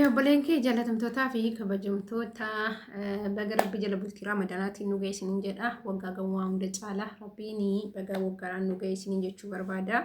Obboleen kee jaalatamtootaa fi kabajamtoota baga rabbi jala bultii raamadanaatti nu geessiniin jedha. Waggaa gawwaa hunda caalaa rabbiin baga waggaaraan nu geessiniin jechuu barbaada.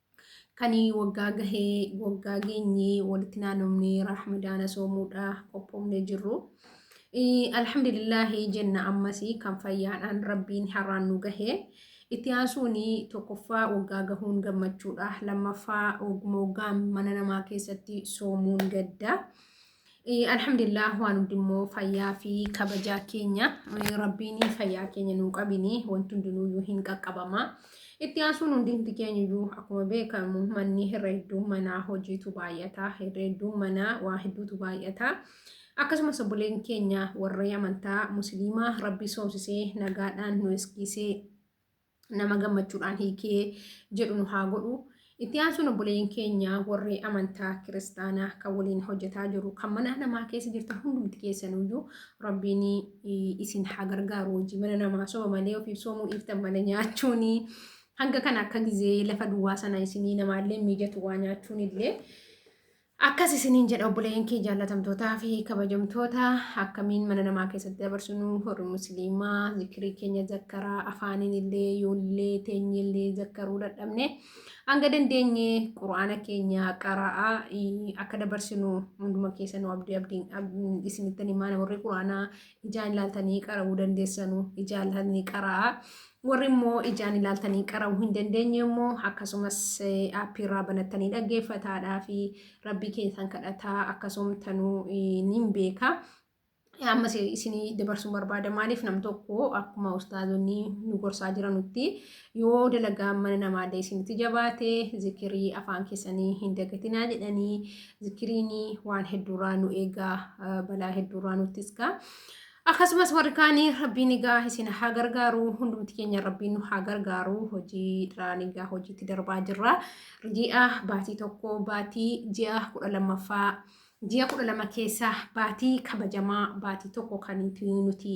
Kan waggaa gahee waggaa geenyee walitti naanofnee rahmadaana soomuudha qophoofnee jirru. Alhamdulillaahi jenna ammas kan fayyaadhaan rabbiin har'aan nu gahee. Itti aansuun tokkoffaa waggaa gahuun gammachuudha. Lammaffaa wagguma waggaan mana namaa keessatti soomuun gadda. Alhamdulillah waan hundummoo fayyaa fi kabajaa keenya rabbiin fayyaa keenya nuu qabini wanti hundinuyyuu hin qaqqabama. Itti aansuun hundumti keenyuyyuu akkuma beekamu manni irra hedduu manaa hojiitu baay'ata irra hedduu manaa waa hedduutu baay'ata. Akkasumas obboleen keenya warra amantaa musliimaa rabbii soomsisee nagaadhaan nu eskiisee nama gammachuudhaan hiikee jedhu nu haa godhu. Itti aansuun obboleeyyiin keenya warri amantaa kiristaanaa kan waliin hojjetaa jiru kan mana namaa keessa jirtan hundumti keessanuyyuu rabbiin isin haa gargaaru hojii mana namaa soba malee ofiif soomuu dhiiftan malee nyaachuun hanga kana akka gizee lafa duwwaa sana isinii namaallee mijatu waa nyaachuun illee Akkas isiniin jedha obboleeyyan kee jaallatamtootaa fi kabajamtoota akkamiin mana namaa keessatti dabarsinu warri musliimaa zikirii keenya zakkaraa afaaniin illee yoollee teenye illee zakkaruu dadhabne hanga dandeenye quraana keenya qara'aa akka dabarsinu hunduma keessa nu abdii abdiin isinitti himaa warri quraanaa ijaan ilaaltanii qara'uu dandeessanu ijaan ilaaltanii qara'aa warri immoo ijaan ilaaltanii qara'uu hin dandeenye immoo akkasumas aappii irraa banattanii dhaggeeffataadhaa fi rabbii keessan kadhataa akkasumtanuu niin beeka. Ammas isinii dabarsuun barbaada maaliif nam tokko akkuma ustaazonni nu gorsaa jiranutti Yoo dalagaan mana namaallee isinitti jabaate zikirii afaan keessanii hin dagatinaa jedhanii zikiriin waan hedduurraa nu eegaa balaa hedduurraa nutti iskaa. Akkasumas warri kaanii rabbiin egaa isin haa gargaaru hundumti keenya rabbiin nu haa gargaaru hojii dhiraan egaa hojiitti darbaa jirra. Ji'a baatii tokko baatii ji'a kudha lammaffaa ji'a kudha lama keessa baatii kabajamaa baatii tokko kan nuti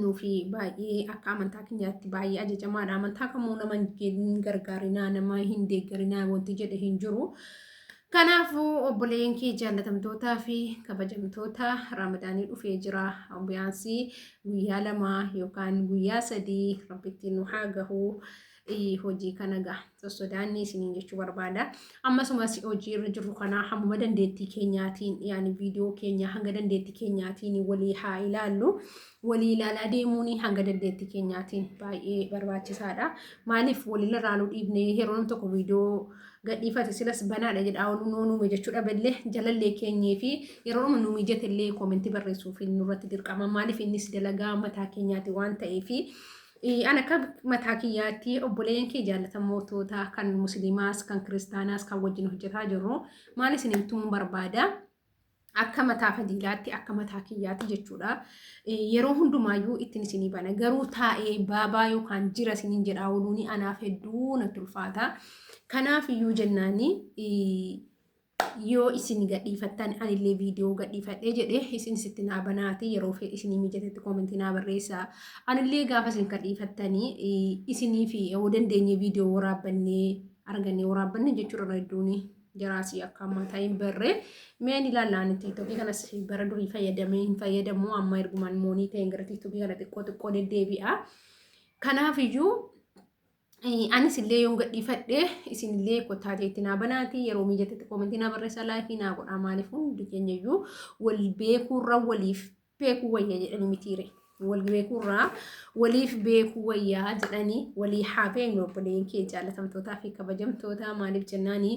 nuufi baay'ee akka amantaa keenyaatti baay'ee ajajamaadha. Amantaa kamuu nama hin gargaarinaa, nama hin deeggarinaa wanti jedhe hin jiru. Kanaafuu obboleeyyan kee jaallatamtootaa fi kabajamtoota raamadaanii dhufee jira. Obbiyaansii guyyaa lamaa yookaan guyyaa sadii rabbitti nu haa gahu. hojii kana gaa sossodaannee isiniin jechuu barbaada. Ammasumas hojii irra jirru kana hammuma dandeettii keenyaatiin yaani viidiyoo keenya hanga dandeettii keenyaatiin walii haa ilaallu. Walii ilaalaa deemuun hanga dandeettii keenyaatiin baay'ee barbaachisaadha. Maaliif walii ilaaluu dhiibnee yeroo namni tokko viidiyoo gadhiifate silas banaadha jedhaa ol nuu nuume jechuudha bellee jalallee keenyee fi yeroo nu mijatillee koomentii barreessuuf nurratti dirqama maaliif innis dalagaa mataa keenyaati waan ta'eefi. Eh, An akka mataa kiyyaatti obboleeyyan kee jaallatamoota kan musliimaas kan kiristaanaas kan wajjin hojjetaa jirru maal isin himtuun barbaada akka mataa fadiilaatti akka mataa kiyyaatti jechuudha. Eh, Yeroo hundumaayyuu ittiin isinii bana garuu taa'ee baabaa yookaan jira isiniin jedhaa ooluuni anaaf hedduu natti ulfaata. Kanaaf iyyuu jennaani eh, yoo isin gadhiifattan anillee viidiyoo gadhiifadhee jedhee isin sitti naa banaati yeroo isinii mijatetti koomentii naa barreessa anillee gaafa isin gadhiifattanii isinii fi yoo dandeenye viidiyoo waraabbannee argannee waraabbanne jechuudha hedduun jaraasii akka ammaa taa'in barree meen ilaallaan tiiktokii kanas bara durii fayyadamee hin fayyadamu amma ergumaan moonii ta'een gara tiiktokii kana xiqqoo xiqqoo deddeebi'a kanaaf iyyuu Anis illee yoon gadhiifadhe isin illee kottaa ta'etti naa banaati yeroo miijatatti koomentii naa barreessaa laayifii naa godhaa maaliif hundi keenya iyyuu wal beekuurra waliif beekuu wayya jedhanii mitiire. Wal beekuurraa waliif beekuu wayyaa jedhanii walii haa beeknu obboleen kee jaalatamtootaa fi kabajamtootaa maaliif jennaanii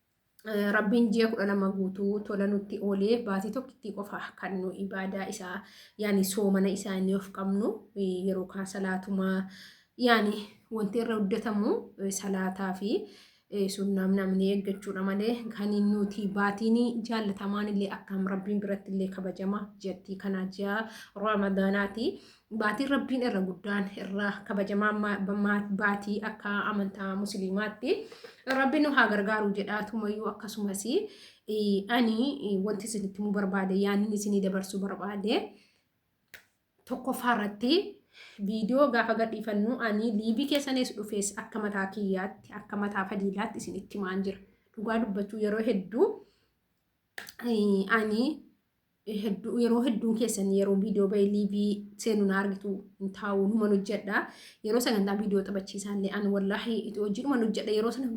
Rabbiin ji'a kudha lama guutuu tola nutti oolee baatii tokkittii qofa kan nu ibaadaa isaa yaani soomana isaa inni of qabnu yeroo kaan salaatumaa yaani wanti irra hojjetamu salaataa fi sunnaam namni eeggachuudha malee kan nuti baatiin jaallatamaan illee akkaam rabbiin biratti illee kabajama jattii kanaa ji'a ramadanaati Baatiin rabbiin irra guddaan irra kabajamaa baatii akka amantaa musliimaatti rabbiin nu haa gargaaru jedha tumayyuu akkasumas ani wanti isinitti himuu barbaade yaanni isinii dabarsuu barbaade tokkoffaa irratti viidiyoo gaafa gadhiifannu ani liibii keessanis dhufees akka mataa kiyyaatti akka mataa fadiilaatti isinitti himaan jira dhugaa dubbachuu yeroo hedduu ani hedduu yeroo hedduun keessan yeroo viidiyoo bahee liivii seenu na argitu hin taa'u numan hojjedha yeroo sagantaa viidiyoo taphachiisaallee an wallaahi itti hojiidhuman hojjedha yeroo sana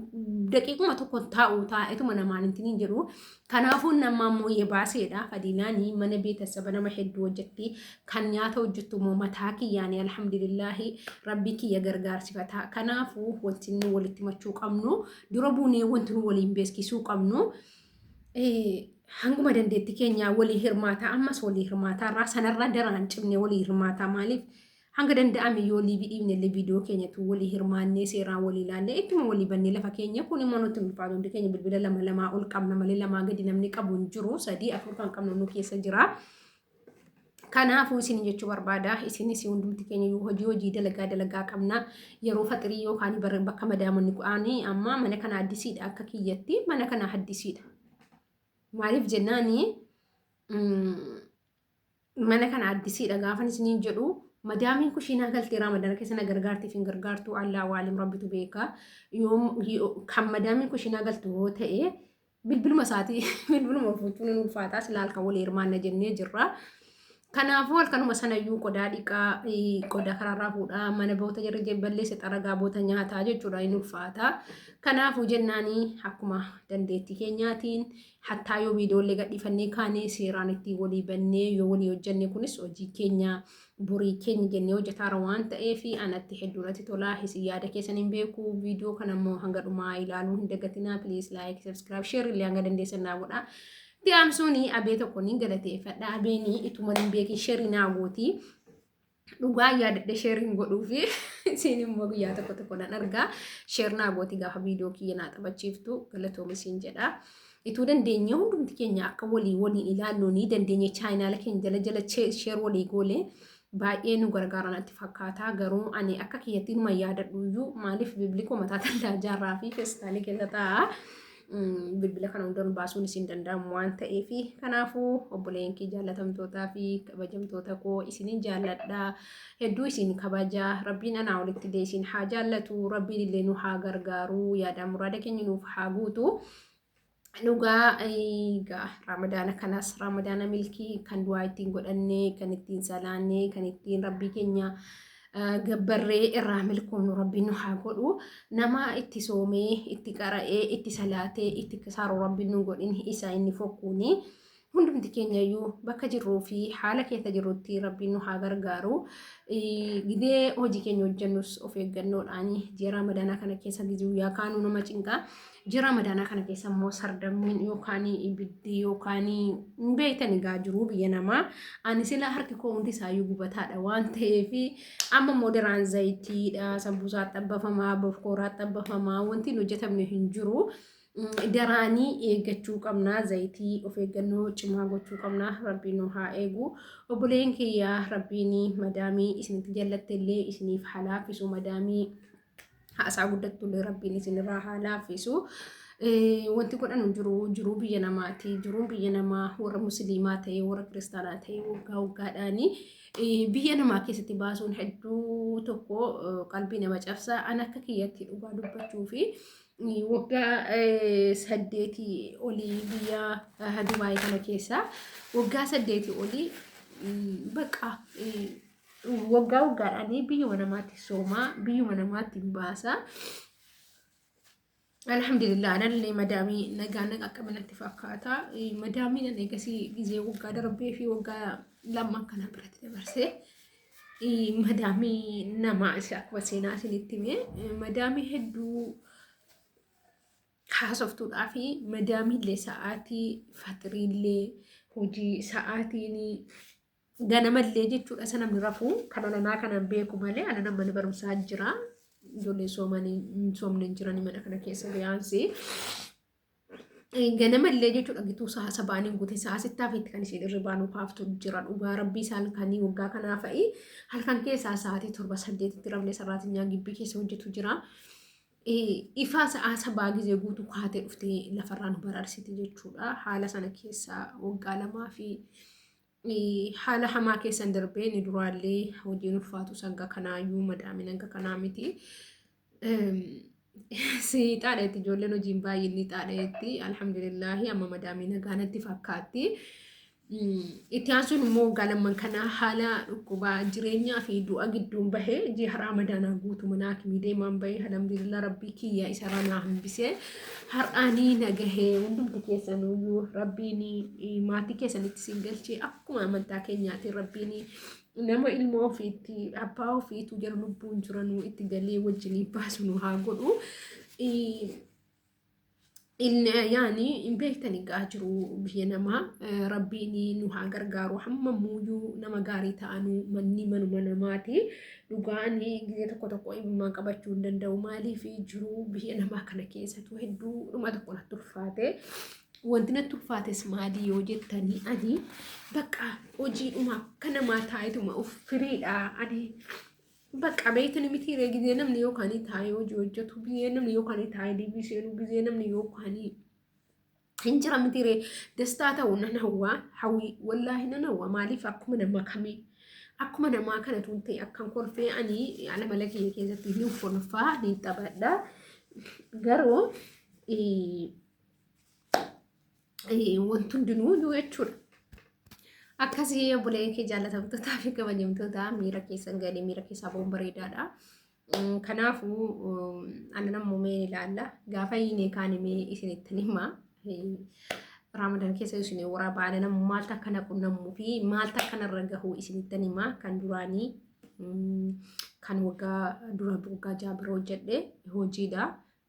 daqiiquma tokko hin taa'u taa'etuma namaan hin tiniin jedhu kanaafuu nama ammoo yee baaseedha fadiilaanii mana beetasaba nama hedduu hojjetti kan nyaata hojjettu immoo mataa kiyyaanii alhamdulillaahi rabbii kiyya gargaarsifataa kanaafuu wanti nu walitti machuu qabnu dura buunee wanti nu waliin beeskisuu qabnu. hanguma dandeetti keenyaa walii hirmaataa ammas walii hirmaataa irraa sanarraa daraan cimne walii hirmaataa maaliif hanga danda'ame yoo liibii dhiibne illee viidiyoo keenyatu walii hirmaannee seeraa walii ilaallee ittuma walii bannee lafa keenya kun immoo nutti ulfaatu hundi keenya bilbila lama lamaa ol qabna malee lamaa gadi namni qabu hin jiru sadii afur kan qabnu nu keessa jira. Kanaafuu isin jechuu barbaada isinis hundumti keenya yoo hojii hojii dalagaa dalagaa qabna yeroo faxirii yookaan bara bakka madaamonni ku'aanii amma mana kana addisiidha akka kiyyatti mana kana addisiidha. Maaliif jennaani mana kana addisiidha gaafan isiniin jedhu madaamiin kushiinaa galtee ramadana keessa na gargaartiif hin gargaartu allaa waalim rabbitu beeka yoo kan madaamiin kushiinaa galtu yoo ta'e bilbiluma isaatii bilbiluma fuuchuun hin ulfaataa silaa halkan walii hirmaanna jennee jirra. Kanaafuu halkanuma sanayyuu qodaa dhiqaa qodaa karaarraa fuudhaa mana boota jirri balleessa xaragaa boota nyaataa jechuudha hin ulfaataa. Kanaafuu jennaanii akkuma dandeettii keenyaatiin hattaa yoo viidiyoollee gadhiifannee kaanee seeraan itti walii bannee yoo walii hojjannee kunis hojii keenya borii keenya jennee hojjetaara waan ta'eef anatti hedduu natti tolaa isin yaada keessan hin beeku viidiyoo kana immoo hanga dhumaa ilaaluu hin dagatinaa please like subscribe share illee hanga dandeessan naa godhaa. Itti aansuuni abee tokko ni galateeffadha abeenii ituma hin beekin share naa gooti dhugaa yaadadhe share hin godhuufi isin immoo guyyaa tokko tokko nan argaa share naa gooti gaafa viidiyoo kiyya naa taphachiiftu galatoomi siin jedha. Ituu dandeenyee hundumti keenya akka walii waliin ilaallu ni dandeenye chaayinaala keenya jala jala sheer walii goole baay'ee nu gargaara natti fakkaata garuu ani akka kiyyatti numa yaadadhu iyyuu maaliif bibliikoo mataa tallaa jaarraa fi feestaalii keessa taa'a bilbila kana hundarra baasuun isin danda'amu waan ta'eef kanaafuu obboleen kee jaallatamtootaa fi kabajamtoota koo isinin jaalladha hedduu isin kabaja rabbiin anaa olitti illee isin haa jaallatu rabbiin illee nu haa gargaaru yaada muraada keenya nuuf haa guutu dhugaa egaa ramadaana kanas ramadaana milkii kan du'aa ittiin godhannee kan ittiin salaannee kan ittiin rabbii keenya eh, gabbarree irraa milkoomnu rabbiin nu haa godhu nama itti soomee itti qara'ee itti salaatee itti kisaaru rabbiin nu godhin isa inni fokkuuni hundumti keenyayyuu bakka jirruu fi haala keessa jirrutti rabbiin nu haa gargaaru. Gidee hojii keenya hojjennus of eeggannoodhaan ji'a ramadaanaa kana keessa guyyaa kaanuu nama cinqaa. Ji'a ramadaanaa kana keessa immoo sardammiin yookaan ibiddi yookaan hin beektan egaa jiruu biyya namaa. Ani sila harki koo hundi isaayyuu gubataadha waan ta'eef amma immoo daraan zayitiidha sambuusaa xabbafamaa bofkooraa xabbafamaa wanti hin hojjetamne hin jiru. garaanii eeggachuu qabnaa zayitii of eeggannoo cimaa gochuu qabnaa rabbiin nu haa eegu obboleen kiyyaa rabbiin madaamii isinitti jallatte illee isiniif haa laaffisu madaamii haasaa guddattu illee rabbiin isinirraa haa laaffisu. Wanti godhanu jiru jiruu biyya namaati. Jiruun biyya namaa warra musliimaa ta'e warra kiristaanaa ta'e waggaa waggaadhaani biyya namaa keessatti baasuun hedduu tokko qalbii nama cabsa. An akka kiyyatti dhugaa dubbachuu fi waggaa saddeetii olii biyya Dubaay kana keessaa waggaa saddeetii olii baqa waggaa waggaadhaan biyyuma namaatti soomaa biyyuma namaatti baasaa. Alhamdulillah anallee madaamii nagaa naqa qabanatti fakkaata. Madaamiin ani eegasii gizee waggaa darbee fi waggaa lama kana biratti dabarsee. madaamii namaa isa akkuma seenaa isinitti hime madaamii hedduu haasoftuudhaa fi madaamiillee sa'aatii fatiriillee hojii sa'aatiin ganamallee jechuudha isa namni rafuu kan alanaa kanan beeku malee alana mana barumsaa jira ijoollee soomanii hin soomne jiranii mana kana keessa biyyaansi. ganama illee jechuudha gituu sa'a sabaan hin gute sa'a sittaa fi kan isheen irribaa nu kaaftu jira dhugaa rabbii isaa halkanii waggaa kanaa fa'i halkan keessaa sa'aatii torba saddeetitti rabnee saraatinyaa gibbii keessa hojjetu jira. Ifaa sa'a sabaa gizee guutuu kaatee dhuftee lafarraa nu baraarsiti jechuudha haala sana keessaa waggaa lamaa fi Haala hamaa keessan darbee ni duraallee hojiin ulfaatu sanga kanaayyuu madaamin hanga kanaa miti. Si xaadheetti ijoolleen hojiin baay'een ni xaadheetti. Alhamdulillaahi amma madaamii nagaanatti fakkaatti. Itti aansuun immoo galamman kanaa haala dhukkubaa jireenyaa fi du'a gidduun bahee ji'a haraa madaanaa guutuu manaa akimii deemaan bahee alhamdulillah rabbii kiyya isa ranaa hambisee. har'aanii nagahee hundumti keessanuyyuu rabbiin maatii keessanitti siin galchee akkuma amantaa keenyaatiin rabbiin nama ilmoo ofiitti abbaa ofiitu jara lubbuun jiranuu itti galee wajjinii baasu nu haa godhu. Inni yaani hin beektani gaa jiru biyya namaa rabbiin nu haa gargaaru hamma muuyyuu nama gaarii ta'anuu manni manuma namaati. Dhugaa ani gizee tokko tokko imimmaan qabachuu hin danda'u maaliif jiruu biyya namaa kana keessatu hedduu dhuma tokko natti ulfaate. Wanti natti ulfaates maalii yoo jettanii ani bakka hojii dhuma akka namaa taa'etuma of firiidha ani bakka beektan miti ree gizee namni yookaan taa'ee hojii hojjetu gizee namni yookaan taa'ee deebii seenuu gizee namni yookaan hin jira miti ree dastaa ta'u nan hawwaa hawwii wallaahi nan hawwa maaliif akkuma nama kamii akkuma namaa kana tun ta'e akkan kolfee ani ala mala kiyya keessatti ni kolfaa ni taphadha garuu wanti hundinuu yoo jechuudha. Akkasii obboleeyyan kee jaallatamtootaa fi kabajamtootaa miira keessan galee miira keessaa boon bareedaadha. Kanaafuu annan ammoo mee ilaalla. Gaafa hiinee kaan himee isinittan hima. Raamadan keessa isin waraa baana namu maal takka na qunnamuu fi maal takka narra gahuu isinittan hima kan duraanii kan waggaa dura waggaa ja'a bira hojjedhe hojiidha.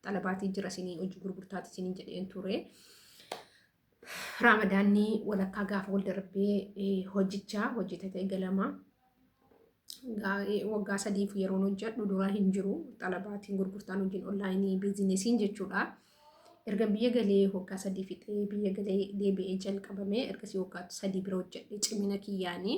Xalabaatii jira isinii hojii gurgurtaati isinii jedheen ture. Raamadaanni walakkaa gaafa wal darbee hojjichaa hojjetata eegalama. Waggaa sadiif yeroon hojjedhu duraa hin jiru. Xalabaatiin gurgurtaan hojiin onlaayinii biizinesiin jechuudha. Erga biyya galee waggaa sadii fixee biyya galee deebi'ee jalqabame ergasii waggaa sadii bira hojjedhe cimina kiyyaanii.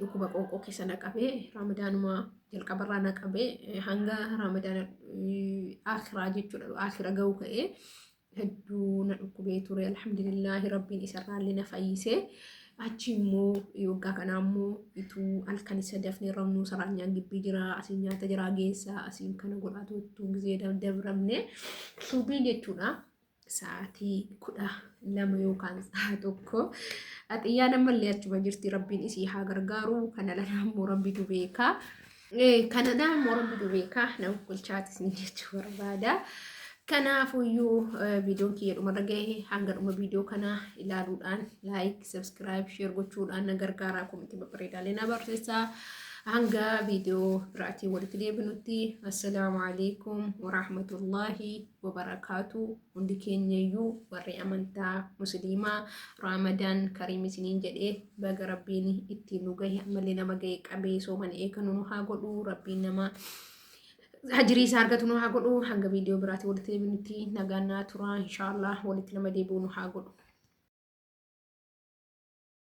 Dhukkuba qoonqoo keessa na qabee raamadaanuma jalqabarraa na qabee hanga raamadaana akiraa jechuudha akira ga'u ka'ee hedduu na dhukkubee ture alhamdulillaahi rabbiin isarraallee na fayyisee achi immoo yoggaa kanaa immoo ituu halkan isa dafnee rabnuu saraanyaan gibbii jira asiin nyaata jira geessaa asiin kana godhaa tuttuu gizee dabramne suubiin jechuudha. sa'aatii kudha lama yookaan sa'a tokko xiyyaan ammallee achuma jirti rabbiin isii haa gargaaru kana lana ammoo rabbitu beeka kana lana ammoo rabbitu beeka nama bulchaatis ni jechuu barbaada. Kanaafuyyuu viidiyoon kiyya dhumarra gahe hanga dhuma viidiyoo kanaa ilaaluudhaan laayik, sabskiraayib, sheer gochuudhaan na gargaaraa komitii babbareedaalee na barreessaa. Hanga viidiyoo biraatiin walitti deebinutti assalaamu alaikum warahmatullaahi wabarakaatu hundi keenyayyuu warri amantaa musliimaa raamadaan kariim isiniin jedhee baga rabbiin ittiin nu gahe ammallee nama gahe qabee soomana eeganu nu haa godhu rabbiin nama hajirii isaa argatu nu haa godhu hanga viidiyoo biraatti walitti deebinutti nagaan naa turaa inshaallah walitti nama deebi'u nu haa godhu.